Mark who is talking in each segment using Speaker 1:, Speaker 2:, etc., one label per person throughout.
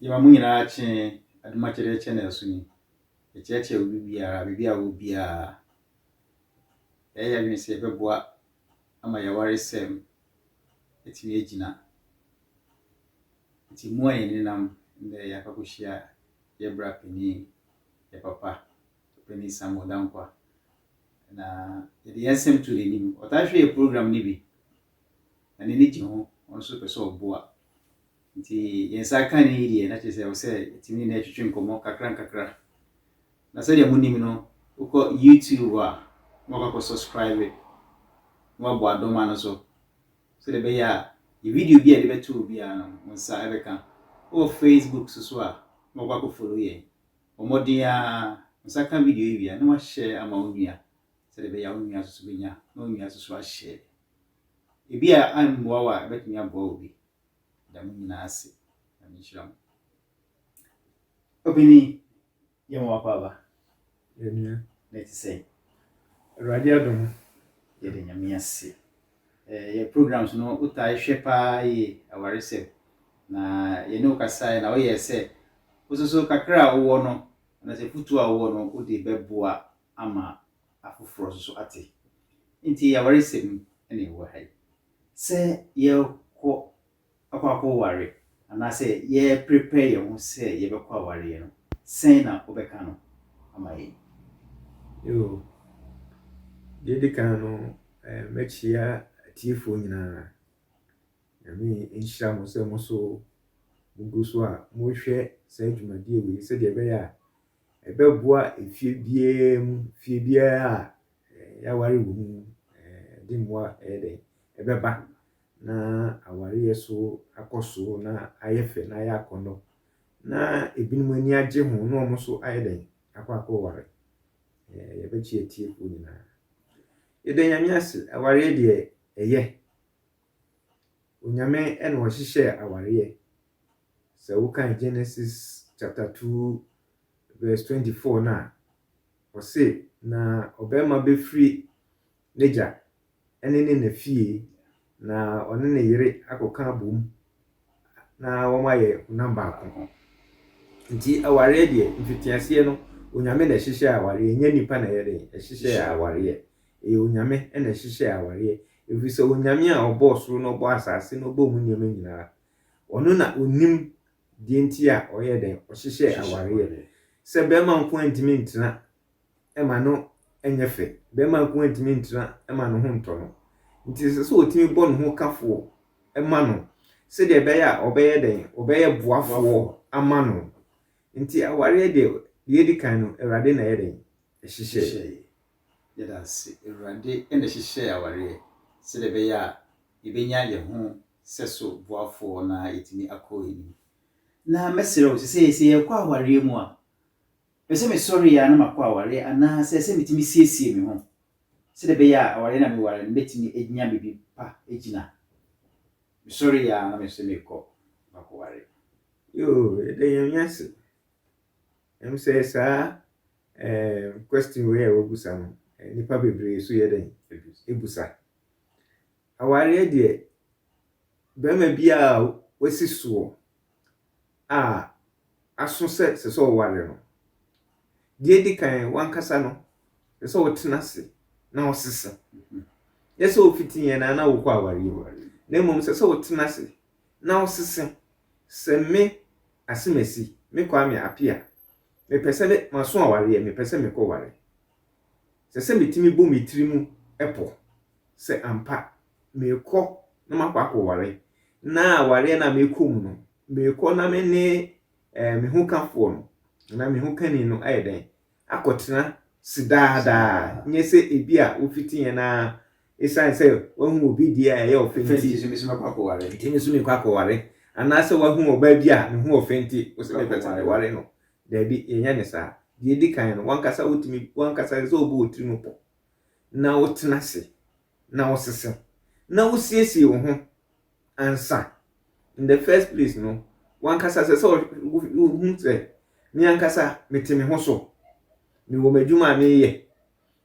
Speaker 1: Yɛma mo nyinaa kye adom akyɛdeɛ kyɛ na ɛso ni. Yɛkyeakyea obi biara, baabi a ɔwɔ biara. Yɛayɛ yɛn adwene sɛ yɛbɛboa ama yɛn awaresɛm atumi agyina. Nti mo a yɛn nenam nnɛ yɛakɔ akɔhyia yɛn bra panin, yɛn papa, Panin Samuel Dankwa. Na yɛde yɛn asɛm to n'anim. Ɔtaa hwɛ yɛn program no bi. Na n'ani gye ho, ɔno nso pɛ sɛ ɔboa. Nti yɛn nsa aka ne yi deɛ, na kyerɛ sɛ ɛwɔ sɛ yɛtumi ne no twetwe nkɔmmɔ nkakrankakra. Na sɛdeɛ monim no, wokɔ YouTube a, na wakɔ akɔ subscribe na wabɔ adoma no so, sɛdeɛ ɛbɛyɛ a yɛ video bi a yɛde bɛto hɔ biara no, wo nsa ɛbɛka. Wowɔ Facebook so so a, na wakɔ akɔ follow yɛn. Bɔ mmɔden ara, wo nsa ka video yi wie a, na wa-share ama wo nua, sɛdeɛ ɛbɛyɛ a wo nua nso so bɛnya, na wo nua nso so a-share. Ebia ammoa wo a, ɛbɛtumi aboa obi. Meda mo nyinaa ase. Nyame nhyira mo. Obini, yɛ mo w'akɔ aba. Yɛnua.
Speaker 2: Na ɛte
Speaker 1: sɛn? Awurade
Speaker 2: adom. Yɛda Nyame
Speaker 1: ase. Eh, yɛ programs no wotae hwɛ paa yie, awaresɛm. Na yɛne wo kasae na woyɛɛ sɛ wo soso kakra a wowɔ no, anaasɛ afutuo a wowɔ no wode bɛboa ama afoforɔ nso ate. Enti ɛyɛ awaresɛm na yɛwɔ ha yi. Sɛ yɛrekɔ akɔ akɔware anaasɛ yɛreprepare yɛn ho sɛ yɛbɛkɔ awareɛ no, sɛn na wobɛka no ama yɛn? Yoo,
Speaker 2: deɛ ɛdi kan no, mɛkyia atiefoɔ nyinaa. Nyame nhyira mo sɛ mo nso mogu so a mohwɛ saa dwumadie wei sɛdeɛ ɛbɛyɛ a ɛbɛboa efie biara mu, fie biara a yɛaware wɔ mu no, ɛde mmoa ɛyɛ dɛ, ɛbɛba na awareɛ so akɔ so na ayɛ fɛ na ayɛ akɔnnɔ. Na ebinom ani agye ho na wɔn nso ayɛ dɛn akɔ akɔware. Ɛɛ yɛbɛkye atiefoɔ nyinaa. Yɛda Nyame ase, awareɛ deɛ ɛyɛ. Onyame na ɔhyehyɛɛ awareɛ. Sɛ wokan Genesis chapter two verse twenty four no a, ɔse, Na ɔbarima bɛfiri n'agya ne ne na fie, na ɔne ne yere akɔka abom na wɔayɛ honam baako. Nti awareɛ deɛ, mfitiaseɛ no, Onyame na ɛhyehyɛ awareɛ, ɛnyɛ nnipa na ɛyɛ den ɛhyehyɛ awareɛ. Ɛyɛ Onyame na ɛhyehyɛ awareɛ, ɛfiri sɛ Onyame a ɔbɔɔ soro na ɔbɔɔ asase na ɔbɔɔ mu nneɛma nyinaa Ɔno na ɔnim deɛ nti a ɔyɛɛ dɛn? Ɔhyehyɛɛ awareɛ. Sɛ bɛɛma nko ara ntumi ntena ma no nyɛ fɛ. Bɛɛma nko ara ntumi ntena ma ne ho ntɔ no. Nti ɛsɛ sɛ ɔtumi bɔ ne ho kafoɔ ma no sɛdeɛ ɛbɛyɛ a ɔbɛyɛ dɛn? Ɔbɛyɛ boafoɔ ama no. Nti awareɛ deɛ, deɛ ɛdi kan no, Awurade na ɛyɛ dɛn? Ɛhyehyɛɛe. Yɛda
Speaker 1: ase. Awurade na ɛhyehyɛɛ awareɛ sɛdeɛ ɛbɛyɛ a yɛbɛnya yɛn ho sɛso boafoɔ na yɛatumi akɔ anim. Na mɛsrɛ wo sɛ sɛ yɛrekɔ awareɛ mu a, pɛ sɛ mesɔre yɛ a na makɔ awareɛ anaa sɛ sɛ metumi siesie me ho sɛdeɛ ɛbɛyɛ a awareɛ na meware no mɛtumi anya baabi pa agyina. Mesɔre yɛ a na me sɛ mekɔ makɔware. Yoo
Speaker 2: yɛda Nyame ase ɛm sɛ saa ɛɛm question wei a wabusa no nnipa bebree so yɛdɛn ebusa Awareɛ deɛ, barima biara a wasi soɔ a aso sɛ ɛsɛ sɛ ɔware no, deɛ ɛdi kan, w'ankasa no, ɛsɛ sɛ wotena ase na wosesa. Nyɛ sɛ wofiti yɛn na na wokɔ awareɛ mu, na mmom sɛ sɛ wotena ase na wosesa. Sɛ me Asemasi, me Kwame Appiah, mepɛ sɛ me, maso awareɛ, mepɛ sɛ mekɔware. Ɛsɛ sɛ metumi bɔ me tiri mu pɔ sɛ ampa merekɔ na makɔ akɔware, na awareɛ no a merekɔ mu no, merekɔ na me ne eh, me hokafoɔ no anaa me hokani no ayɛ dɛn akɔtena se daa daa nyɛ sɛ ebi a wofiti yɛn a ɛsiane sɛ wahu obi deɛ a ɛyɛ ɔfɛ nti nti me so mɛkɔ akɔware nti me so mekɔ akɔware anaasɛ wahu ɔbaa bi a ne ho ɔfɛ nti wo sɛ mepɛ sɛ meware no daabi yɛnyɛ ne saa deɛ ɛdi kan no wankasa wotumi wankasa sɛ wobɔ wo tiri mu pɔ na wotena ase na wosesa na wosiesie wo ho ansa. In the first place no, w'ankasa sɛ sɛ wohu sɛ me ankasa mete me ho so, mewɔ m'adwuma a meyɛ,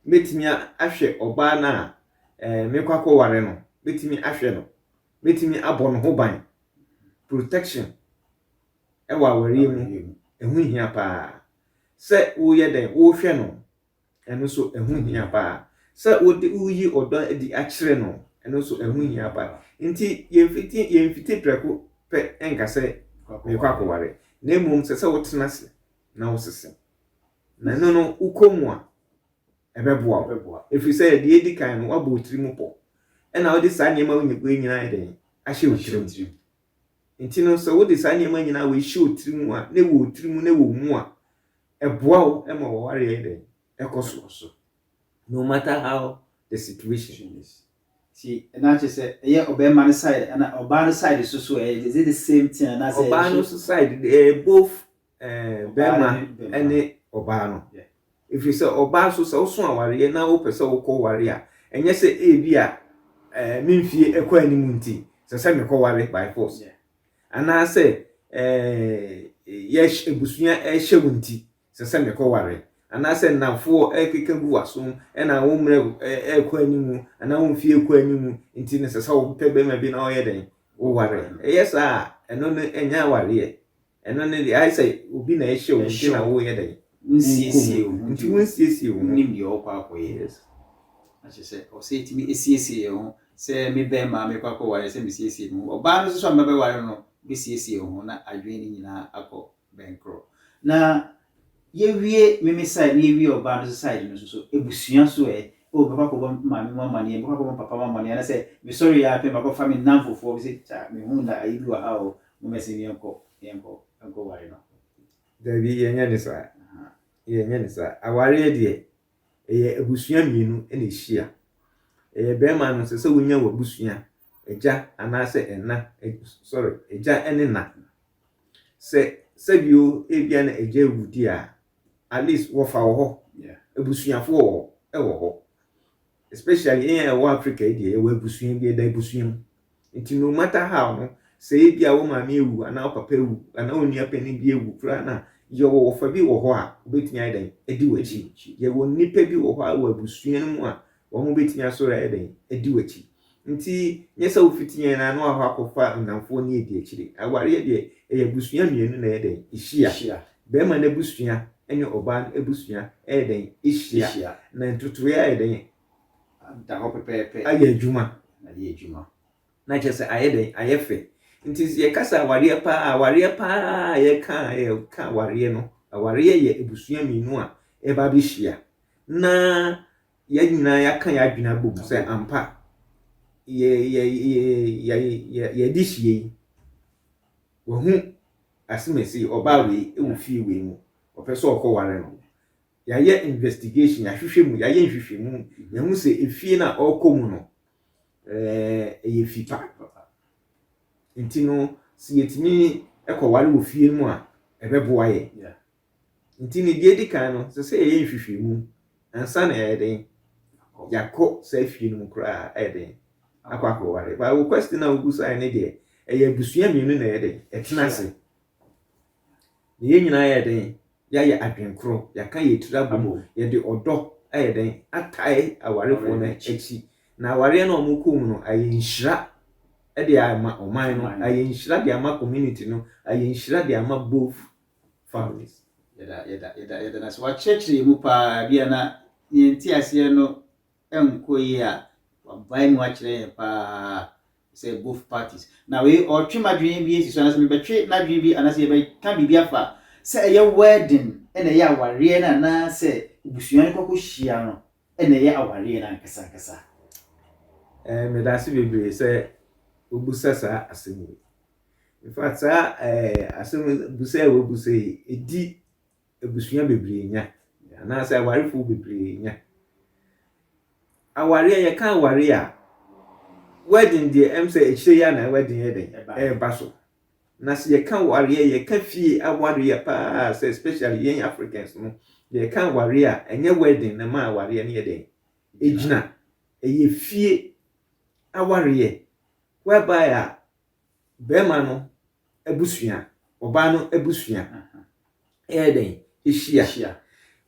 Speaker 2: mɛtumi ahwɛ ɔbaa no a eh, mekɔ akɔware no, mɛtumi ahwɛ no, mɛtumi abɔ no ho ban. Protection ɛwɔ awareɛ mu, ɛho hia paa sɛ woyɛ dɛn, wohwɛ no Ɛno nso, ɛho hia paa. Sɛ wode woreyi ɔdɔ adi akyerɛ no, ɛno nso, ɛho hia paa. Enti yɛmfiti yɛmfiti prɛko pɛ nka sɛ merekɔ akɔware, na mmom ɛsɛ sɛ wotena ase na wosese. Na ɛno no, wokɔ mu a, ɛbɛboa wo. Ɛfiri sɛ deɛ ɛdi kan no, woabɔ wo tirim pɔ. Ɛna wode saa nneɛma wei nyinaa ayɛ dɛn? Ahyɛ wo tirim. Enti no, sɛ wode saa nneɛma nyinaa wei hyɛ wo tirim a, na ɛwɔ wo tirim na ɛwɔ wo mu a, Ɛboa wo ma w'aware yɛ dɛn? Ɛkɔ so. No matter how the situation is. Nti na
Speaker 1: kyerɛ sɛ ɛyɛ ɔbarima no side anaa ɔbaa no side nso so ɛ? Is it the same thing anaasɛ? Ɔbaa no nso side de,
Speaker 2: ɛyɛ both ɛɛ barima ne ɔbaa no. Ɛfiri sɛ ɔbaa nso sɛ woso awareɛ na wopɛ sɛ wokɔ ware a, ɛnyɛ sɛ ebi a ɛɛ me mfeɛ kɔ anim nti ɛsɛ sɛ mekɔ ware by force. anaasɛ yɛhyɛ abusua ɛhyɛ wo nti sɛ sɛ mekɔware anaasɛ nnamfoɔ ɛkeka gu w'aso ɛna wo mmerɛ ɛkɔ anim anaa wo mfie ɛkɔ anim nti no sɛ sɛ wopɛ bɛrima bi na ɔyɛ dɛn woware ɛyɛ saa a ɛno no ɛnyɛ awareɛ ɛno no deɛ ayɛ sɛ obi na ɛhyɛ wo nti na woyɛ dɛn wonsiesie wo
Speaker 1: nti wonsiesie
Speaker 2: wo ho nim deɛ ɔkɔ akɔyɛ
Speaker 1: yes
Speaker 2: akyɛ sɛ
Speaker 1: ɔsɛ ɛtumi ɛsiesie yɛ ho sɛ mebɛn maa merekɔ akɔware sɛ mesiesie me ho. Ɔbaa no nso a mɛbɛware no bɛsiesie wo ho na adwene no nyinaa akɔ bɛnkorɔ. Na yɛwie me me side na yɛwie ɔbaa no nso side no nso so, abusua so ɛ, oh mɛkɔ akɔbɔ me maame mu amanneɛ, mɛkɔ akɔbɔ me papa mu amanneɛ anasɛ mesɔre yɛ ara pɛ makɔfa me nnamfofoɔ bi sɛ kya mehu na ayi bi wɔ ha o, mommɛsen me yɛnkɔ yɛnkɔ yɛnkɔware no. Dabi, yɛnyɛ
Speaker 2: no saa. Yɛnyɛ no saa. Awareɛ deɛ, Ɛyɛ abusua mmienu na ɛhyia. Ɛyɛ barima no, ɛsɛ sɛ wonya w'abusua, agya anaasɛ ɛna, sorry, agya ne na. Sɛ sɛbio ebia na agya awu di a, at least wɔfa wɔ hɔ, abusuafoɔ wɔ hɔ, ɛwɔ hɔ. Especially yɛn a ɛwɔ Africa yi deɛ, yɛwɔ abusua bi, ɛda abusua mu. Nti no matter how no, sɛ ebia wo maame awu anaa wo papa awu anaa wo nua panin bi awu koraa na yɛwɔ wɔfa bi wɔ hɔ a, wobɛtumi ayɛ dɛn? Adi w'akyi. Yɛwɔ nnipa bi wɔ hɔ a wɔ abusua no mu a wɔn bɛtumi asɔre ayɛ dɛn? Adi w'akyi. Nti nyɛ sɛ wofiti yɛn na na wakɔ akɔfa nnamfoɔ ne adi akyire. Awareɛ deɛ ɛyɛ abusua mmienu na ɛyɛ dɛn? Ɛhyia. Bɛrima no abusua ne ɔbaa no abusua ɛyɛ dɛn? Ɛhyia. Na ntotoeɛ ayɛ dɛn? da
Speaker 1: hɔ pɛpɛɛpɛ, ayɛ adwuma,
Speaker 2: ayɛ adwuma,
Speaker 1: na kyerɛ sɛ ayɛ dɛn,
Speaker 2: ayɛ fɛ. Nti sɛ yɛkasa awareɛ pa ara a, awareɛ pa ara a yɛka a, yɛka awareɛ no, awareɛ yɛ abusua mmienu a ɛba abɛhyia na yɛn nyinaa yɛaka yɛn adwene abɔ mu sɛ ampa yɛ yɛ yɛ yɛ yɛ yɛde hyia yi wahu asemasi ɔbaa wei wɔ fie wei mu ɔpɛ sɛ ɔkɔware no yɛayɛ investigation, yɛahwehwɛ mu, yɛayɛ nhwehwɛmu, yɛahu sɛ efie no a ɔrekɔ mu no, ɛyɛ fi pa. Nti no, sɛ yɛtumi kɔware wɔ fie no mu a, ɛbɛboa yɛ. Nti no, deɛ edi kan no, sɛ sɛ yɛyɛ nhwehwɛmu ansa na yɛyɛ den, yɛakɔ saa fie no mu koraa ɛyɛ den akɔ akɔware. Ba wo question a wobusaeɛ ne deɛ, ɛyɛ abusua mmienu na ɛyɛ den, ɛtena ase. Na yɛn nyinaa yɛ den Yɛayɛ adwene korɔ, yɛaka yɛn tiri abom, yɛde ɔdɔ ayɛ dɛn? atae awarefoɔ no akyi. Na awareɛ no a wɔkɔ mu no, ayɛ nhyira de ama ɔman no, ayɛ nhyira de ama community no, ayɛ nhyira de ama both families. Yɛda, yɛda, yɛda,
Speaker 1: yɛda no ase. Wakyerɛkyerɛ yɛn mu paa. Ebia na yɛn nteaseɛ no nkɔ yie a, wabae mu akyerɛ yɛn paa. sɛ both parties na wei ɔtwe m'adwene bi asi so anaasɛ mebɛtwe n'adwene bi anaasɛ yɛbɛka biribi afa sɛ ɛyɛ wedding ɛna ɛyɛ awareɛ no anaasɛ abusua no kɔkɔ hyia no ɛna ɛyɛ awareɛ no ankasa ankasa.
Speaker 2: Eh, meda ase bebree sɛ wobusa saa asɛm yi. In fact, saa eh, asɛm busa a wobusa yi, ɛdi abusua bebree nya, anaasɛ awarefo bebree nya. Aware a yɛka aware a, wedding deɛ ɛm sɛ akyire yi na wedding yɛ dɛn ɛreba so. Na sɛ yɛka aware a, yɛka fie aware a paa sɛ especially yɛn Africans no, yɛka aware a ɛnyɛ wedding na ma awareɛ no yɛ dɛn ɛgyina. Ɛyɛ fie awareɛ whereby a bɛrima no abusua, ɔbaa no abusua yɛ dɛn? Ɛhyia.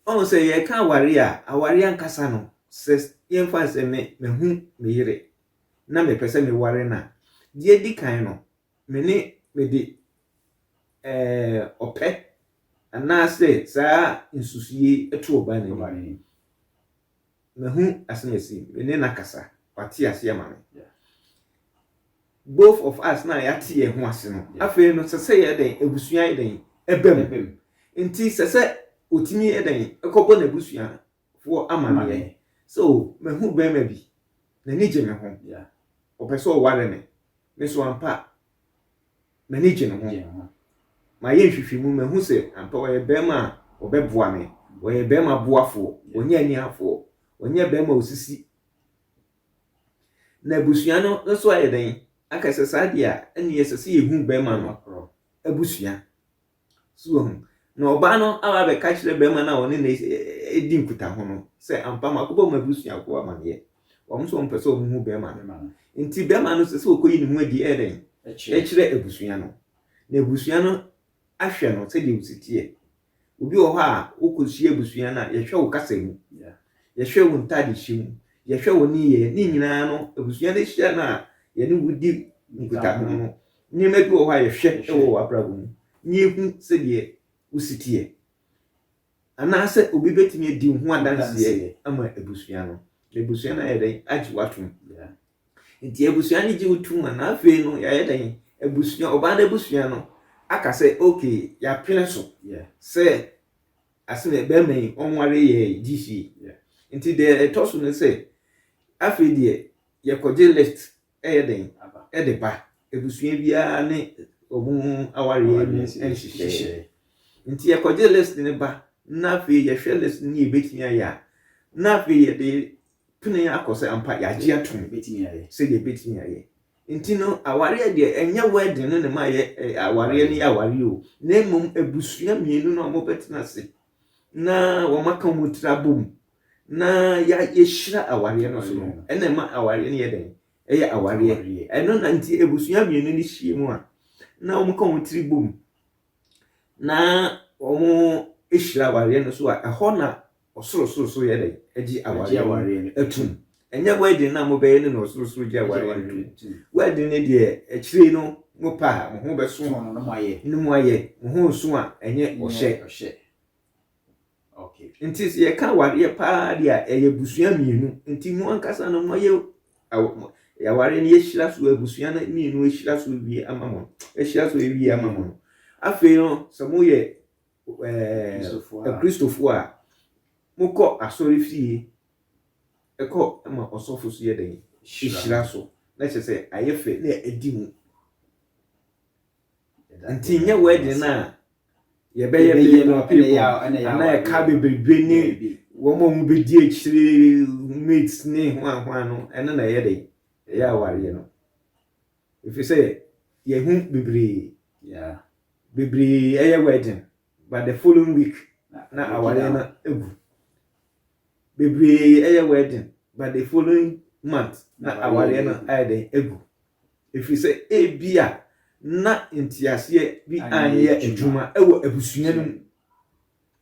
Speaker 2: Ɔhu sɛ yɛreka aware a, aware ankasa no, sɛ yɛmfa sɛ me mahu me yere na mepɛ sɛ meware no a, deɛ ɛdi kan no, me ne mede ɔpɛ anaasɛ saa nsusuie to ɔbaa no anim. Mahu asem asi me ne no akasa wate aseɛ ama me both of us na yɛate yɛn ho ase no afei no sɛ sɛ yɛ dɛn abusua yɛ dɛn ɛbɛ mu nti sɛ sɛ ɔtumi yɛ dɛn ɛkɔbɔ n'abusua foɔ ama meɛ sɛ o mahu bɛrima bi n'ani gye me ho ɔpɛ sɛ ɔware me me so ampa M'ani gye ne ho. Mayɛ nhwehwɛmu, mahu sɛ ampa ɔyɛ barima a ɔbɛboa me. Ɔyɛ barima boafoɔ, ɔnyɛ aniafoɔ, ɔnyɛ barima a ɔsisi. Na abusua no nso ayɛ dɛn? Anka sɛ saa deɛ a, ɛnneɛ ɛsɛ sɛ yɛhu barima no abusua. So wahu? Na ɔbaa no aba abɛka kyerɛ barima no a ɔne no di nkutaho no sɛ ampa makɔbɔ wɔn abusuafoɔ amaneɛ. Wɔn nso wɔmpɛ sɛ wɔhu barima no. Nti barima no sɛ sɛ ɔkɔyi ne ho adi ɛyɛ dɛn? Ɛkyerɛ abusua no. Na abusua no ahwɛ no sɛdeɛ ɔsi teɛ. Obi wɔ hɔ a wokɔhyia abusua no a yɛhwɛ wo kasa mu. Yɛhwɛ wo ntaade hyɛ mu. Yɛhwɛ wo nneyɛɛ. Ne nyinaa no abusua no hyia no a yɛne wo di nkutaho no Nneɛma bi wɔ hɔ a yɛhwɛ wɔ w'abrabɔ mu na yɛhu sɛdeɛ wo si teɛ. Anaasɛ obi bɛtumi adi wo ho adanseɛ ama abusua no, na abusua no ayɛ dɛn? Agye wo atom. Nti abusua no gye wo tom a, na afei no yɛayɛ dɛn? Abusua, ɔbaa no abusua no aka sɛ okay, yɛapene so sɛ asene barima yi ɔnware yɛ gye fie. Nti deɛ ɛtɔ so ne sɛ, afei deɛ yɛkɔgye lift yɛ den de ba abusua biara ne wɔn awareɛ mu nhyehyɛeɛ. Nti yɛkɔgye list no ba na afei yɛhwɛ list no ne yɛbɛtumi ayɛ a, na afei yɛde pene akɔ sɛ ampa yɛagye atom sɛ yɛbɛtumi
Speaker 1: ayɛ.
Speaker 2: Nti no awareɛ deɛ ɛnyɛ wedding no ne ma yɛ awareɛ no yɛ awareɛ o, na mmom abusua mmienu no a wɔbɛtena ase na wɔaka wɔn tiri abɔ mu Na yɛ yɛhyira awareɛ no so no ɛna ɛma awareɛ no yɛ dɛn ɛyɛ awareɛ ɛno na nti abusua mmienu no hyia mu a na wɔn ka wɔn tiri bom na wɔn hyira awareɛ no so a ɛhɔ na ɔsorosoro so yɛ dɛn ɛgye awareɛ no atum ɛnyɛ wɛden na mo bɛyɛ no na ɔsorosoro gye awareɛ no atum wɛden no deɛ akyire no mo pa a mo ho bɛso no mo
Speaker 1: ayɛ mo ho nso
Speaker 2: a ɛnyɛ ɔhyɛ
Speaker 1: Ok nti sɛ yɛka
Speaker 2: awareɛ paa deɛ a ɛyɛ abusua mmienu nti mo ankasa no moayɛ awareɛ no yɛhyira so abusua no mmienu ahyira so wie ama mo ahyira so awie ama mo no afei no sɛ moyɛ ɛɛ akristofoɔ a mokɔ asɔre fie ɛkɔ ma ɔsɔfo so yɛ dɛn hyira so na kyerɛ sɛ ayɛ fɛ na adi mu Ntsi nnyɛ wedding no a yɛbɛyɛ bɛyɛ no people anaa ɛka beberebe ne wɔn a wɔbɛdi akyire mates ne hwanhwan no ɛno na ɛyɛ dɛ ɛyɛ awareɛ no ɛfiri sɛ yɛhu bebree bebree ɛyɛ wedding but the following week na awareɛ no agu bebree ɛyɛ wedding but the following month na awareɛ no ayɛ dɛ agu ɛfiri sɛ ebia na nteaseɛ bi anyɛ adwuma wɔ abusua no mu.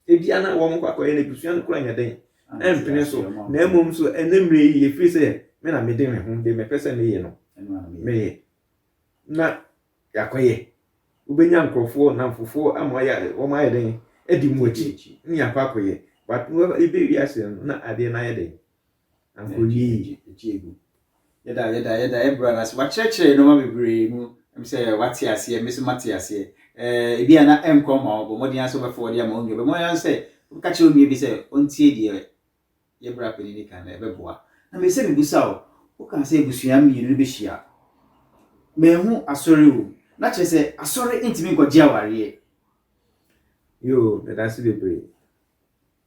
Speaker 2: Ebia na wɔn kɔ akɔyɛ no abusua no kora nyɛ dɛn ɛmpene so, na mmom so ɛnɛ mmerɛ yi ɛfiri sɛ me na mede me ho de mepɛ sɛ meyɛ no meyɛ na yɛakɔyɛ wobɛnya nkurɔfoɔ namfofoɔ ama ayɛ wɔn ayɛ dɛn adi mu akyi ne akɔ akɔyɛ but wobɛwie aseɛ no na adeɛ no ayɛ dɛn Ankonie.
Speaker 1: Yɛda yɛda yɛda yɛn bra no ase wakyerɛkyerɛ yɛn nneɛma bebree mu ɛm sɛ wate aseɛ ɛmɛ so mate aseɛ ɛɛ ebi a na ɛnkɔ ma wɔn bɔ mmɔden ara sɛ wɔbɛfɔ wɔde ama wɔn nua bɛ mmɔden ara sɛ wɔbɛka kyerɛ wɔn nua bi sɛ ɔntie deɛ yɛ bra panin ne kan na ɛbɛboa na mɛ sɛ mebusa o woka sɛ abusua mmienu no bɛhyia mɛhu asɔre wɔ mu na kyerɛ sɛ asɔre ntumi nkɔgye awareɛ
Speaker 2: yoo yɛda ase bebree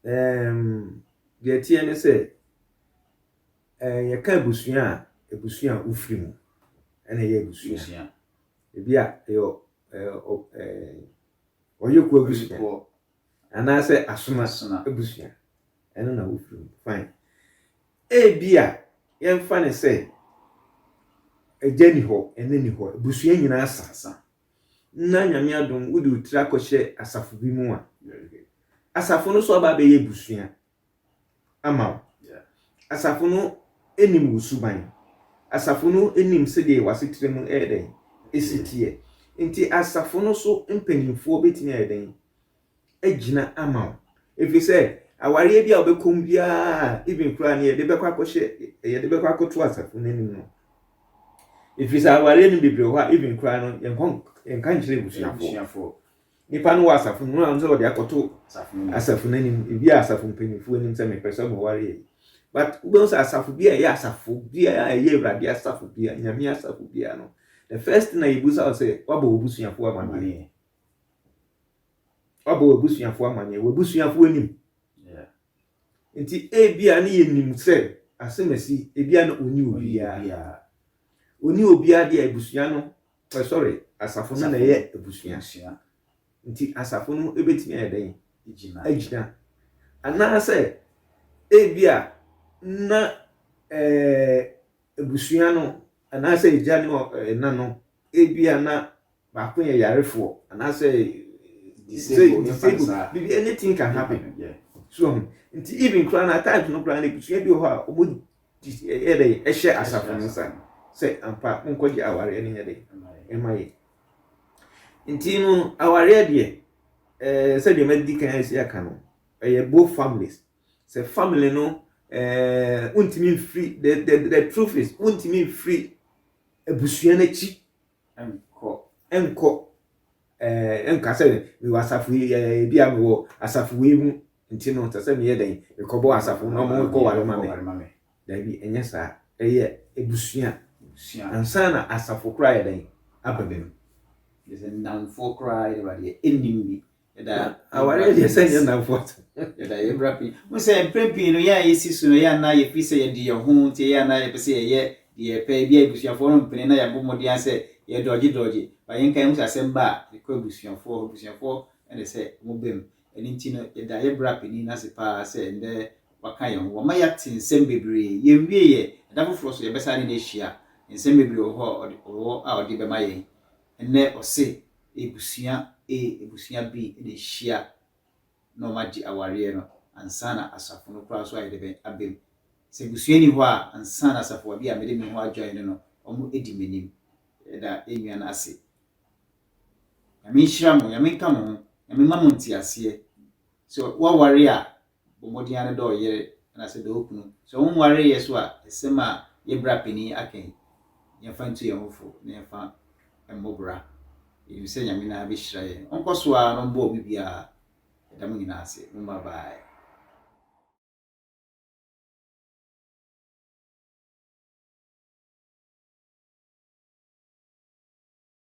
Speaker 2: Ɛɛm, deɛ ɛteɛ ne sɛ, ɛɛ, yɛka abusua a, abusua a wofiri mu ɛna ɛyɛ abusua. Ebi a ɛyɛ ɛɛ ɔyɛkuo abusua anaasɛ asoma abusua ɛno na wofiri mu. Fine. Ebi a yɛmfa ne sɛ agya ni hɔ, ɛna ni hɔ, abusua nyinaa sa. na Nyame adom wode wo tiri akɔhyɛ asafo bi mu a, asafo no nso aba abɛyɛ abusua ama wo. Asafo no nim wo suban. Asafo no nim sɛdeɛ w'asetra mu ɛyɛ dɛn, ɛsi teɛ. Nti asafo no so mpanimfoɔ bɛtumi ayɛ dɛn agyina ama wo. Ɛfiri sɛ, awareɛ bi a wobɛkɔ mu biara, even koraa ne yɛde bɛkɔ akɔhyɛ yɛde bɛkɔ akɔto asafo no anim no. Ɛfiri sɛ awareɛ no bebree hɔ a even koraa no yɛnkɔ yɛnka nkyerɛ abusuafoɔ. Nipa no wɔ asafo no mu na sɛ wɔde akɔto asafo no anim, ebi a asafo mpanimfoɔ anim sɛ mepɛ sɛ mɔwareɛ yi. But wobɛhu sɛ asafo bi a ɛyɛ asafo biara a ɛyɛ awurade asafo biara, nyame asafo biara no, the first thing a yɛbusa wo sɛ wabɔ w'abusuafoɔ amaneɛ. Wabɔ w'abusuafo amanneɛ, w'abusuafo anim. Nti ebia ne yɛnim sɛ asɛm asi, ebia na ɔni obiara. Ɔni obiara deɛ abusua no, eh, sorry, asafo no na ɛyɛ abusua. Nti asafo no bɛtumi ayɛ dɛn? Agyina. Anaasɛ ebia na eh, abusua no, anaasɛ agya ne eh, ɛna no, ebia na baako yɛ yarefoɔ anaasɛ disabled biribi anything can happen so ɔho nti even koraa na at no koraa na ebusua bi wɔ hɔ a wɔn yɛ dɛ ɛhyɛ asafo no nsa sɛ ampa monkɔgye awareɛ no yɛ dɛ ɛma yɛ nti no awareɛ deɛ ɛɛ eh, sɛdeɛ madi kan asi aka no ɛyɛ both families sɛ family no ɛɛ eh, wontumi mfiri the the the truth is wontumi mfiri abusua no akyi Ɛnkɔ, ɛnkɔ, ɛɛ, ɛnka sɛ mewɔ asafo yi, ɛɛ, ebi a mewɔ asafo yi mu, nti no, sɛ sɛ meyɛ dɛn, mekɔbɔ asafo na wɔn kɔ ware ma me. Dabi, ɛnyɛ saa. Ɛyɛ abusua. Ansa na asafo koraa yɛ dɛn aba bi no. Ɛsɛ
Speaker 1: nnamfoɔ koraa yɛ dɛn ba deɛ, ɛnnim bi. Yɛda aware abiɛsa nyɛ
Speaker 2: nnamfo ato. Yɛda yɛn bra
Speaker 1: pii. Mo sɛ mprɛn pii no yɛn a yɛsi so no yɛn anaa yɛpiri sɛ yɛde yɛn ho nti yɛn anaa yɛpɛ sɛ yɛyɛ deɛ yɛpɛ ebi a abusuafoɔ no mpene na yɛabɔ mmɔden ara sɛ yɛdɔgye dɔgye ba yɛn kan mu sɛ asɛm ba a ɛkɔ abusuafoɔ hɔ abusuafoɔ na ɛsɛ wɔn bam ɛno nti no yɛda yɛn bra panin no ase paa sɛ ɛndɛ waka yɛn ho wama yɛate nsɛm bebree yɛn wie yɛ ɛda foforɔ so yɛbɛsa ne no ahyia nsɛm bebree wɔ hɔ a ɔde wɔ a ɔde bɛma yɛn ɛnɛ ɔse Ebusua A, Ebusua B na ehyia na wɔagye awareɛ no ansa na asafo no koraa nso ayɛ dɛ bɛn aba mu. Sɛ abusua nni hɔ a, ansa na asafoa bi a mede me ho adwae no no wɔadi m'anim. Yɛda yɛn nua no ase. Nyame nhyira mo, Nyame nka mo ho, Nyame mma mo nteaseɛ. Sɛ woaware a, bɔ mbɔdzen ara dɛ ɔyer na sɛ dɛ okunu. Sɛ onnwaree yɛ so a, asɛm a yɛ bra panyin akã yi, yɛmfa ntu hɛnho fo na yɛmfa mbɔ bra. Yenyim sɛ Nyame noara behyira hɛn. Ɔnkɔ so ara na ɔmboa obi biara. Yɛda mo nyina ase. Mo mba bae.